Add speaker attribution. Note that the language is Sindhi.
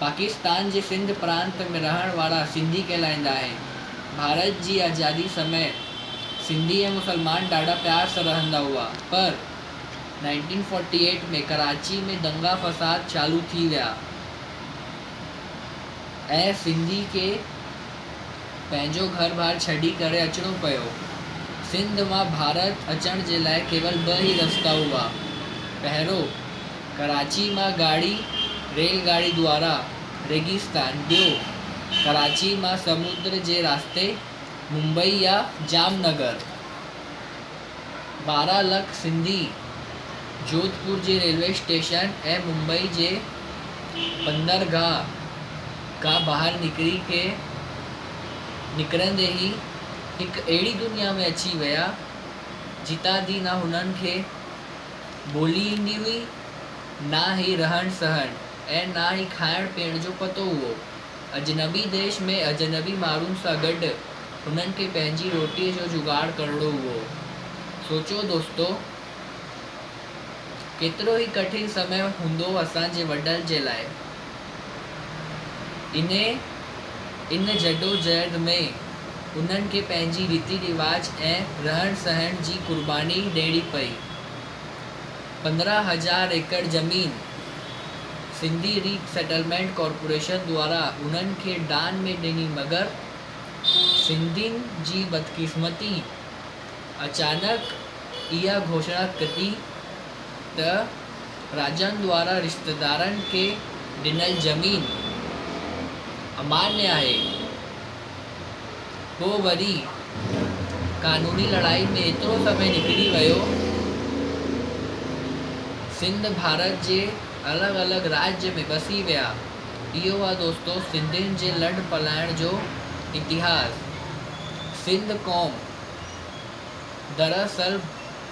Speaker 1: پاڪستان جي سنڌ پرانت ۾ رهڻ وارا سنڌي ڪهلائيندا آهن. ڀارت جي آزادي سمي سنڌي ۽ مسلمان ڏاڍا پيار سان رهندا هئا پر نائنٽين فورٽي ايٽ ۾ ڪراچي ۾ دنگا فساد چالو ٿي ويا ۽ سنڌي کي پنهنجو گهر بار ڇڏي ڪري اچڻو پيو. سنڌ مان ڀارت اچڻ جي لاء ڪيول ٻه ئي رستا هئا. پهريون. ڪراچي مان ڳاڙهي ريل گاڏي دوارا ريگستان ٻيو ڪراچي مان سمنڊ جي رستي ممبئي يا جام نگر ٻارهن لک سنڌي جوڌپور جي ريلوي اسٽيشن ۽ ممبئي جي بندرگاهه کان ٻاهر نڪري کي نڪرندي هي هڪ اهڙي دنيا ۾ اچي ويا جتان دي نه هنن کي ٻولي ايندي هئي، نه ئي رهڻ سهڻ ۽ نه ئي کائڻ پيئڻ جو پتو هئو. اجنبي ديش ۾ اجنبي ماڻهن سان گڏ هنن کي پنهنجي روٽيء جو جوگاڙ ڪرڻو هئو. سوچو دوستو! ڪيترو ئي ڪٺن سمي هوندو اسان جي وڏن جي لاء. انهيء ان جدوجهد ۾ انهن کي پنهنجي ريتي رواج ۽ رهڻ سهڻ جي قرباني ڏيڻي پئي. پندرهن هزار ايڪڙ زمين سنڌي ري سيٽلمينٽ ڪارپوريشن دوارا انهن کي دان ۾ ڏني مگر سنڌين جي بدقسمتي اچانڪ اها گهوشڻا ڪڍي ته راجن دوارا رشتيدارن کي ڏنل زمين اماڃ آهي، پوء وري قانوني لڙائي ۾ ايترو سمي نڪري ويو، سنڌ ڀارت جي الڳ الڳ راڄ ۾ وسي ويا. اهو آهي دوستو سنڌين جي لڏ پلاڻ جو اتهاس. سنڌ قوم دراصل